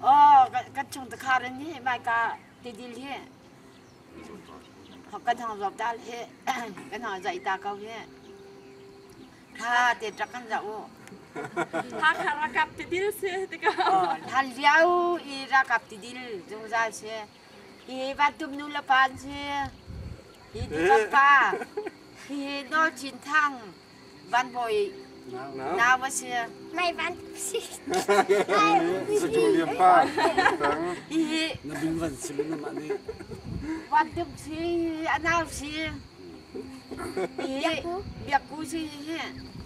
Oh, kan chung ta khar ni mai ka ti dil hi. Kan hang zop dal hi. Kan hang zai ta kau hi. Tha te trak kan zau. Tha khara kap ti dil se ti ka. Oh, tha liau i ra kap ti dil jung za se. Hi Vatum nu le pa an si. Hi tu pa hi No Chin Thang Van Hoi nau a si. Mai van si. Satu liam pa. Hi Na bin van sim na mah nih. Vatum si a nau si. Hi biak ku si hi.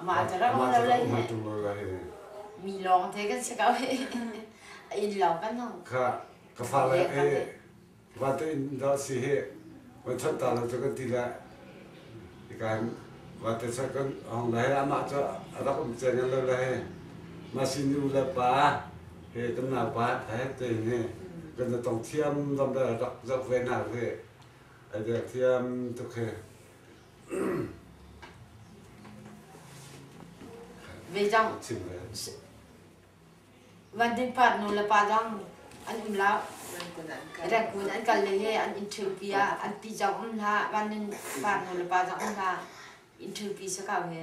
Amah cu ram ra lai le mi lawng te kan si ko he a in lo kan no. Ka ka fa le he wa to in da si he wa chat ta na to kan ti la ikan wa te sa kan hong la he amah cu a rak um chen lo la he ma sin u le pa he kan na pa ha te ne kan na tong thiam lam da rak zak ve na ve ai de thiam tu he ve cang van din pat nu le pa dang an um la rat kun an kal le he an in thil pi ah an pi jang um hla van din pat nu le pa dang um hla in thil pi sa kau he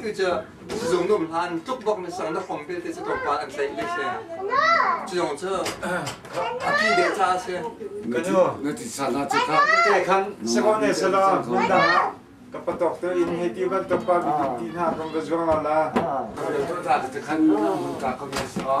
tu cu sizung nuam hlan tluk bak na sang na phong te te cu to pa an tlaih le se cu zong cu api de cha se kanu na ti sa na chu ka te khan sakon ne sala mun da ka patok to in he ti ban to pa bi ti na kam ka zuang ala to da te khan mun ta ka mi so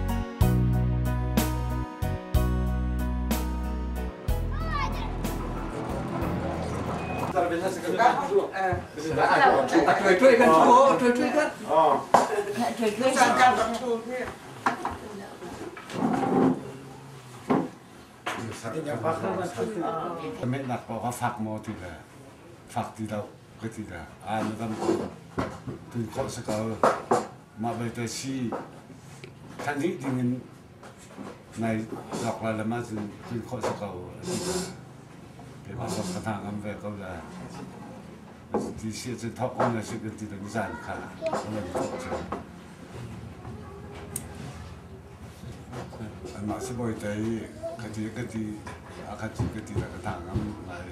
Menak pa ka fak mo ti le fak ti lo ka ti le ai madam tu ko sa ka Mah belte si thlanih dingin nai zakla lam ahcun tlin khawh si ko a si ta. Keimah zong ka hna ngam ve ko la. Ti si ahcun thawk ko na si kan ti dang zan kha a lang tuk cu. Anmah si boi te i kati kati a kati kati na ka hna ngam lai.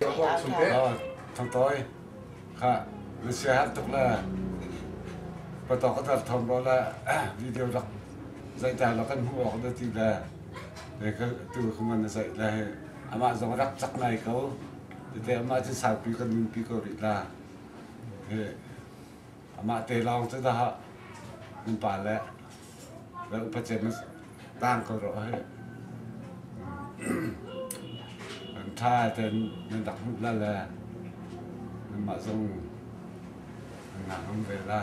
Ka hawi chung te thangtawi kha na sia har tuk le patok ka tar thon ro le video rak zaih ta la kan hmu awk da ti le te ka tu ka man na zaih le he amah zong rak chak nai ko tete amah cu saupi kan nunpi ko rih la he Amah te lawng cu dah nupa le le upate na tang ko rawh hi. Kan tha ten nan dak hmuh la le nanmah zong nan ngah ngam ve la.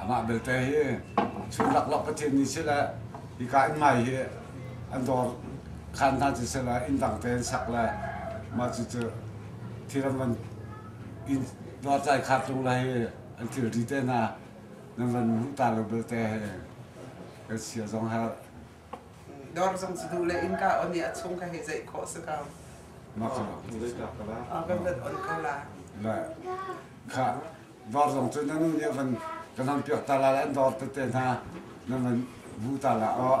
Amah belte hi chun laklak Pathian nih sile hika inn ngai hi an dawr khan hna cu sile inn dang te an sak le mah cucu thiram an inn dawrtlai khatlung le hi an thilri te hna nan van hmuh ta lo belte hi kan sia zong har Dawr zong cu hnu le innka on i a chung ka hei ceih khawh si ko. mah cu Ah, kan vat on ko la. le kha Var zong cu na nu nih van ka nan piak ta la, an dawr tete hna na van bu ta la aw.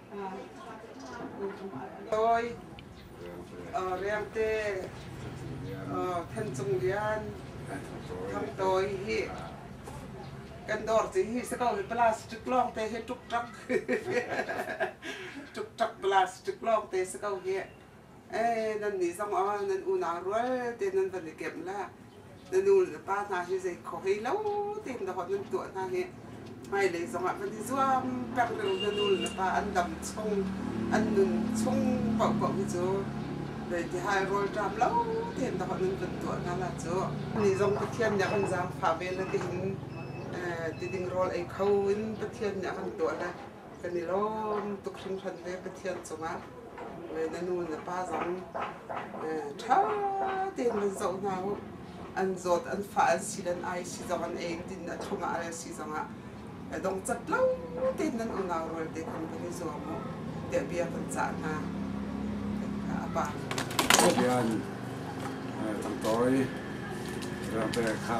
Dawi, Riangte, Thancung Lian, Thang Tawi hi kan dawr ci hi se ko hi plastic long te hi tuk tak tuk tak plastic long te se ko hi ee nan nih zong ah nan unau rual te nan van i kemh la na nu le pa hna hi zei kho hlei lo tein dahawt nan tuah hna hi hmailei zong ah van i zuam peng reu na nu le pa an dam chung an nun chung paohpaoh hi cu zei ti hai rawlṭam lo tein dahawt nan van tuah hna la cu ni zong Pathian nih a kan zaangfah ve la tiin ti ding rawl ei kho in Pathian nih a kan tuah la kan i lawm tuk hringhran ve Pathian cungah na nu na pa zong ṭha tein van zoh hna u an zawt an fa an si dan ai si zong an ei din a thong ah ai si zong ah dong cat lo tein nan unau rual te khan van i zuam u tiah bia kan cah hna a pa Obian Tangtori Rampe Kha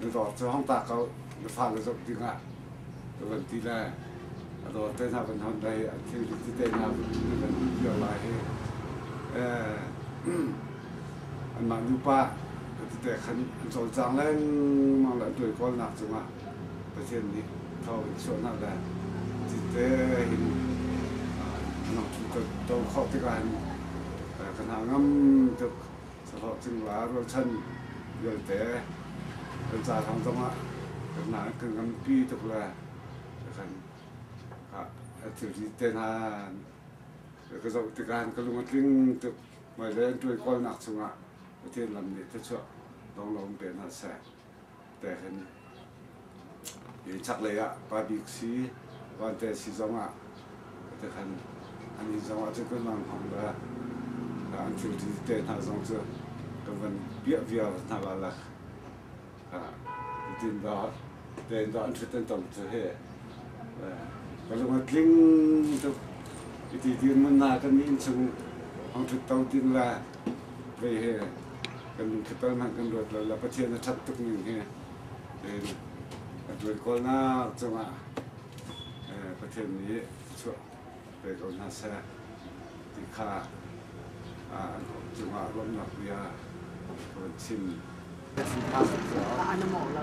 na dawt cu hangta ko na fa na zoh dingah ka van ti le a dawt te hna van hon dei a thil dik tete hna na van hmuh cio lai hi anmah nupa ka tete khan an cawlcang lengmang le an tuai kawlnak cungah Pathian nih tho in chuah hna le cite hin anang thil to khawh tikah hin kan ha ngam tuk sahlawh cingla rualchan vialte kan ca thawng zongah kan nganpi tuk le kan thilri te hna ka zoh tikah ka lung a tling tuk hmailei an tuai kawlnak chungah Pathian lam nih thluachuah lawnglawng pe hna seh. tekin chaklei ah pabik si vante si zong ah tekhan an inn zong ah cu kan van hmang le an thilti te hna zong cu kan van piah viar hna la la kutin da tein da an thuten tam cu he ka lung a tling tuk iti tin mun na kan nin chung hong thut to tin la mei he kan thlatal hmanh kan ruat lo. La Pathian a ṭhat tuk ning he tiin a ṭuan kawlnak cungah Pathian nih chuah pe ko hna seh ti kha an cungah ruahnak bia ka van chim. Ka mawh lo.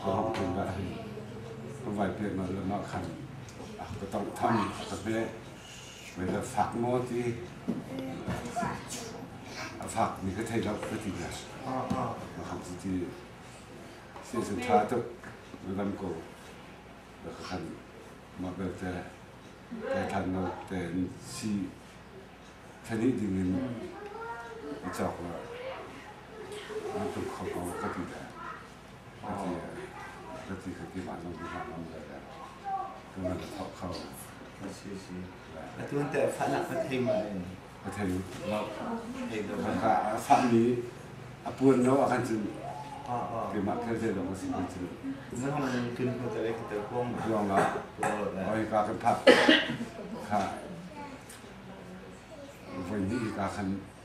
Khuaham tlung ah hin ka vai pek na lam ah khan ka tong tham ka be whether fak maw ti a fak ni ka thei lo ka ti na ma khan ti ti sin sin tha tuk na lam ko da ka khan ma bel te ke than no ten si thani ding in i chok la an tung kho ko ka ti na Atu an tar fahnak ka thei ma in. A thei lo. Thei lo. A fahmi a puan lo a kan cun keimah thil thei lo ka sin kan cun. Nang man kin ko tare ka tar kuang ma. Kuang la. Oi ka kan phak. Ka. Voi ni ka kan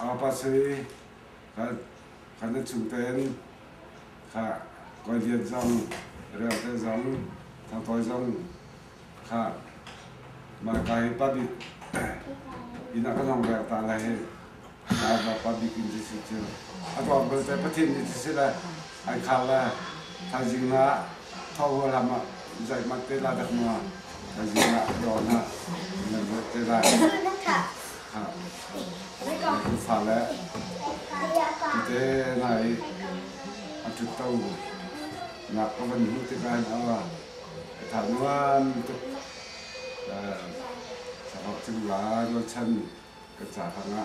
Angpasei kan kan cu ten kha koi lian zong rel te zong thang toi zong kha ma kai pabik ina kan hong rel ta lai he na ba pabik in ti si cu a tuan bal te pathin ni ti si le ai khal le thazing na Thau ram ah zeihmanh te lai dak ma zing ah dawr na nan zat te lai fa le te nai a tut to nak ka van hu te kan awa ka tha nuan tuk sa ho chim la ro chan ka cha hanga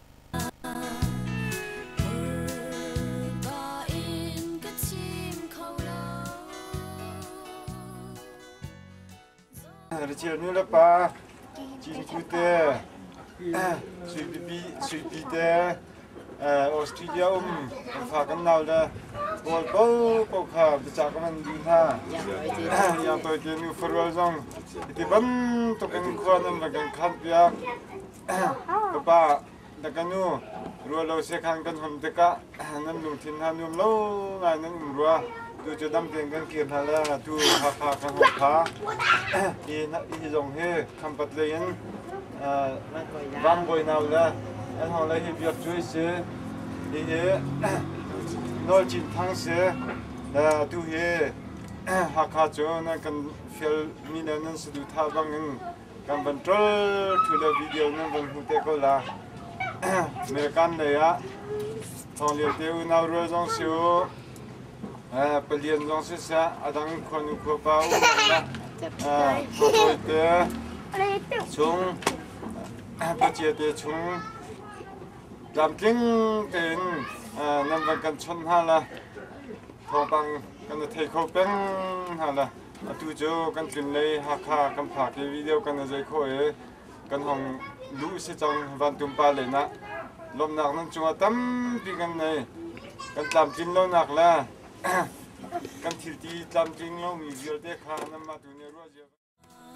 Rachel nu le pa Cinku te Sui Pipi Sui Pi te Australia um fa kan nau le Paul po po kha bicha ka man di hna Yang toy te nu farual zong Iti bam to kan khua nam la kan khan piak ka pa da ka nu rua lo se khan kan hom tikah nan lungthin hna nuam lo ngai nan um rua tu cu dam tein kan kir hna la tu hakha kan hong kha hi hi zong hi khampat lei in bang boi nau le an hong lai hi biak cui si hi hi nol chin thang si tu hi hakha cu nan kan fial mi le nan sadu tha bang in kan van ṭol ṭhu le video nan vun hmu te ko la. American lei ah thawng lio te unau rual zong si u, eh, palian zong si sa, adang khua nu khua pa u le eh, thawtawi te chung pachia te chung tlamtling tein eh, nan van kan chon hna la thawngpang kan thei kho peng hna la Atu cu kan tlinlei Hakha kan phak i video kan na zei khawh i kan hong luh si cang vantum pa len ah lawmhnak nan cungah tampi kan nei kan tlamtlin lonak le kan thilti tlamtling lomi vialte kha nanmah tu nih ruah cia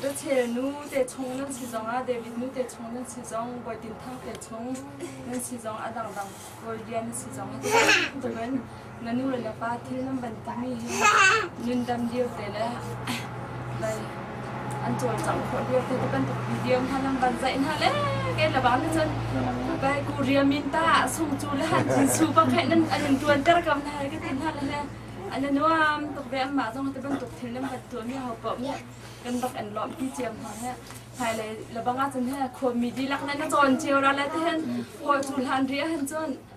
Te chel nu te chung nan si zong ah David nu te chung nan si zong Bawi Tin Thang te chung nan si zong a dang dang Bawi Lian nan si zong tukin na nu le na pa thil nan ban timi nun dam dir te le bai an cawlcangh khawh lio tu kan tuk video hna lang van zaih hna le ke la bang cun kai ku ria min ta sung cu le han chin su pa khai nan an tuan ter kam na ke tin hna le an nuam tuk ve amma zong te ban tuk thil nam bat tu mi hau pa mu kan bak an lom pi chiam hna he hai le la banga cun he kho mi di lak na na chon chiu ra le te hen ho chu lan ria han chon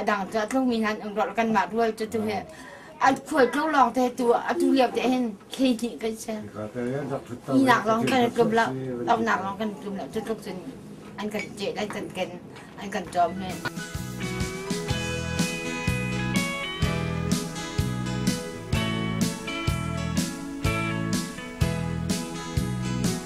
a dang ca tlung in han um rol kan mah rual cu tu he an khual tlo lawng te tu atu liau te hin khi ni kan se ni nak lawng kan tlum lo lam nak lawng kan tlum lo tu tluk cun an kan je dai tan ken an kan jom he